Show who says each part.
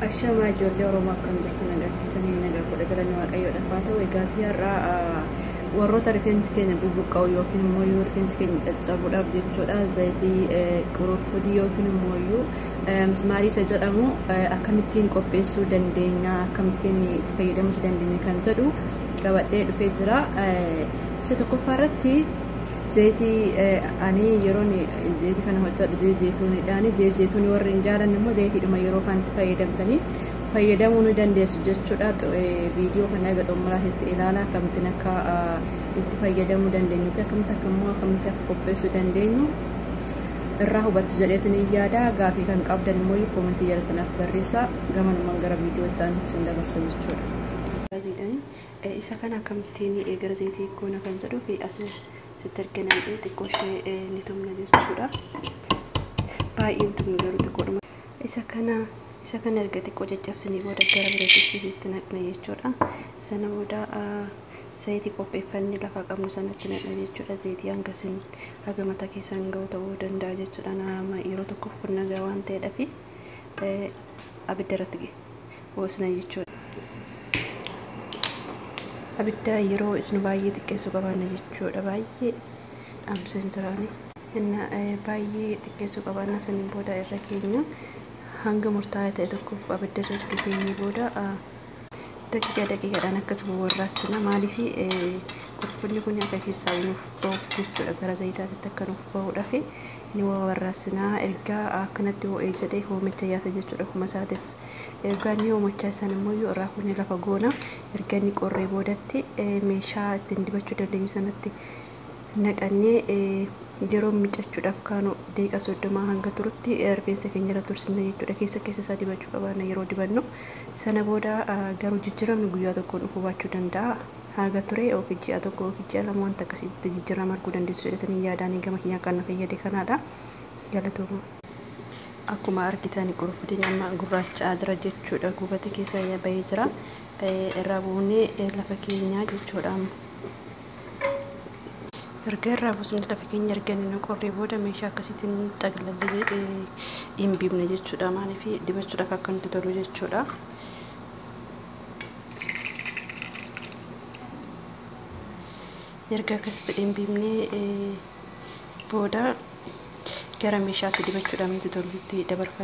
Speaker 1: Ashamaa ijoollee Oromoo akkam jirtu nagaa keessanii nagaa godha galanni waaqayyoodhaaf haa ta'u egaa fi har'aa warroota rifeensi keenya bubuqqa'u yookiin immoo yoo rifeensi keenya caccabuudhaaf jechuudha zayitii qurufudii yookiin immoo iyyuu mismaarii isa jedhamu akkamittiin qopheessuu dandeenya akkamittiin itti fayyadamuus dandeenya kan jedhu qabadhee dhufee jira isa tokkoffaa irratti Zeeti ani yeroon zeeti kana hojjedhu zeeti zeetuunidhaani zeeti zeetuunii warri hin jaalanne immoo zeetiidhuma yeroo kanatti fayyadamtanii fayyadamuu ni dandeessu jechuudha viidiyoo kana eega xumuraatitti ilaala akkamittiin akka itti fayyadamuu dandeenyu fi akkamitti akka immoo akkamitti akka qopheessuu dandeenyu irraa hubattu jedheetin hin yaada gaafii kan qabdan immoo koomentii jalatti naaf barreessaa gamanumaan gara viidiyoo itti aanutti sin dabarsa jechuudha. Isa kana akkamittiin gara zayitii goona kan jedhuu fi as sitti erga nam'ee xiqqoo ishee ni tumna jechuudha. Baay'ee hin tumnu garuu xiqqoodhuma. Isa kana isa kana erga xiqqoo caccabsinee booda gara bireetitti itti naqna jechuudha. Sana booda zayitii qopheeffanne lafa qabnu sanatti naqna jechuudha. Zayitii hanga sin haga mataa keessan ga'u ta'uu danda'a jechuudha. Nama yeroo tokkoof kun nagaa waan ta'eedhafi. abidda irratti hoosna jechuudha. Abidda yeroo isnu baay'ee xiqqeessuu qabaanna jechuudha. Baay'ee dhaamseen jiraani. Inna baay'ee xiqqeessuu qabaanna saniin booda irra keenya hanga murtaa'aa ta'e tokkoof abidda irra erga keenyee booda daqiiqaa daqiiqaadhaan akkasuma warraassina. Maaliif qurfunni kun akka keessaa nuuf ba'uuf jechuudha. Gara zayitaatitti akka nuuf ba'uudhaaf ni wawarraasina. Erga akkanatti ho'ee jedhee hoomicha yaasa jechuudha kuma isaatiif. Erga inni hoomachaa isaan immoo yoo irraa kunnee lafa goona. Erga inni qorree boodatti meeshaa ittiin dibachuu dandeenyu sanatti naqannee yeroo miicachuudhaaf kaanu deeqa soddomaa hanga turutti rifeensa keenya irra tursinna jechuudha. Keessa keessa isaa dibachuu qabaanna yeroo dibannu. Sana booda garuu jijjiiramni guyyaa tokkoon dhufuu baachuu danda'a. Haaga ture yookiin ji'a tokko yookiin ji'a lama wanta akkasii itti jijjirrama arguu dandeessu jedhetanii yaada ani gama kiyyaan kan na fayyade kanaadha. Galatooma. Akkuma argitan qurunfudiin amma gurraacha'aa jira jechuudha. Guubati keessa ya bahee jira. Eh, irraa buunee eh, lafa keenyaa jechuudha amma. Erga irraa buusnee lafa keenya erga inni nu qorree booda meeshaa akkasiitiin xaglallee eh, hin biibna jechuudha. Maaliif dibachuudhaaf akka nutti tolu jechuudha. erga akkas fedheen biifnee booda gara meeshaatti dibachuudhaan wanti tollutti dabarfanna.